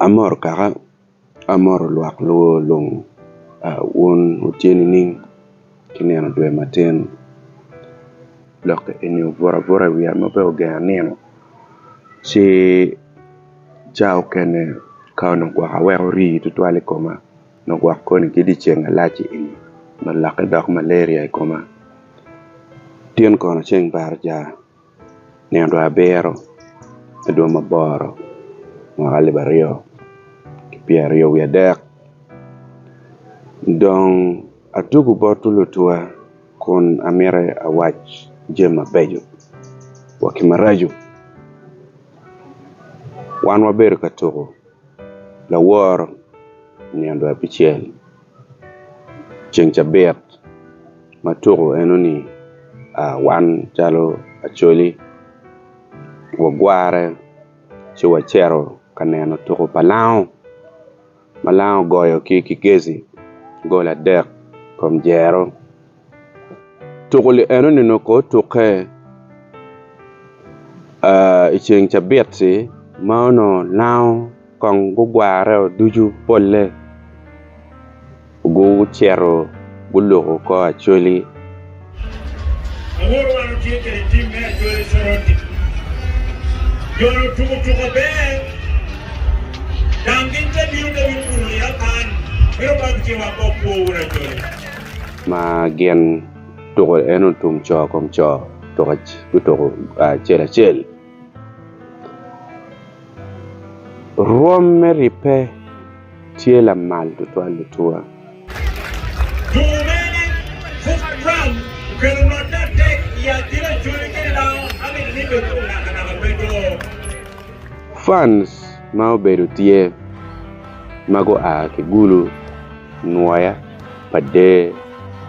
Amoro kaka, amoro lwak luwo lung wun wutye nining ki nino dwe matin lok eni obuto abuta i wiya ma pe ogenga nino ci ca okene ka onongo gwok aweko rii tutwal i koma nongo gwok koni ki dyeceng malac eni nongo lokke dok malaria i koma, tin kono ceng pe aryaka. nino dwe abiro me dwe maboro mwaka alip aryo ki pyera aryo wiye adek dong atugo bot lutuwa kun amyero awac jami mabeco wa ki maraco wan wabedo ka tuko laworo nino dwe abicel ceng cabit ma tuko eno ni wan calo Acholi wagwore ci wacito ka neno tuko pa lango ma lango ogoyo ki Kigezi gol adek i kom dyero. Tuko li enoni onongo ko otukke i ceng cabit-ti ma onongo lango kong gugwareo ducu polle gucito guluko kor acholi. ma gin tuko en otum co kom co gutuko acel acel rwom me ribbe tye lamal tutwal ature. Tuko mene Tuko drum okelo rwot me adek i Adhiri Acholi kede Lao Ahmed Limbe ki Munaka Naka Beco. Fans ma obedo tye ma gua ki Gulu. nwoya pa der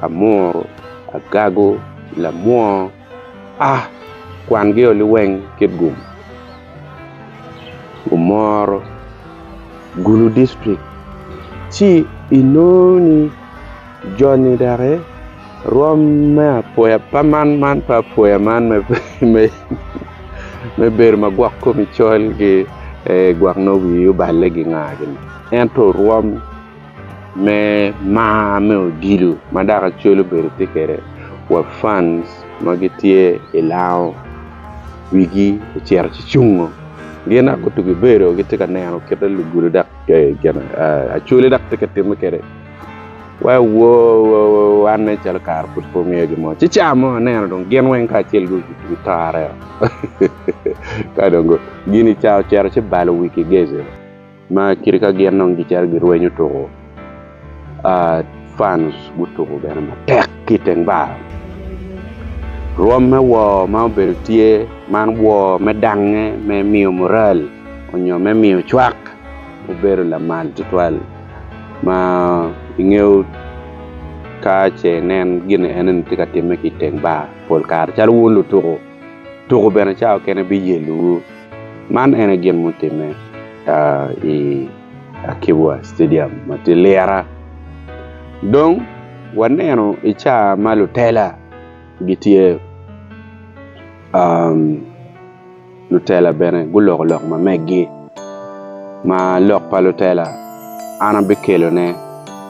amuru agago lamwongo ah kwan gio liweng kit gum omoro gulu district ci inongo ni joni doki rom me apoya pa man man pa apoya man me bedo ma gwok komi col ki gwok nongo wii oballe ginga gini. Ento rwom me mar me odilo ma dako acwel obedo tye kwede wa fans ma gitye i Lao wigi ocito ci cungo. Gin dok gutugo ibedo gitye ka neno kit ma lugudo dok gin acwele dok tye ka timme kwede. Wa wanne calo kare pud pe omiyo gin mo. Ci ca mo aneno dong gin weng kacel guto aryo. Ka dong gin ca ocito ci balo wi Kigezi. Ma kite ka gin dong gicito girwenyo tuko, France gutuko bene matek ki i teng bar. Rwom me wor ma obedo tye man wor me dangnge me miyo mural nyo me miyo cwak obedo lamal tutwal ma ingeyo ka ce inen gin enoni tye ka timme ki i teng bar pol kare calo wun lutuko tuko bene cawa kene biyellowu. Man ene gin mutimme i Akibwa Stadium ma tye Lira. Dong waneno i caa ma lutela gitye lutela bene guloko lok ma meggi ma lok pa lutela an abikelone.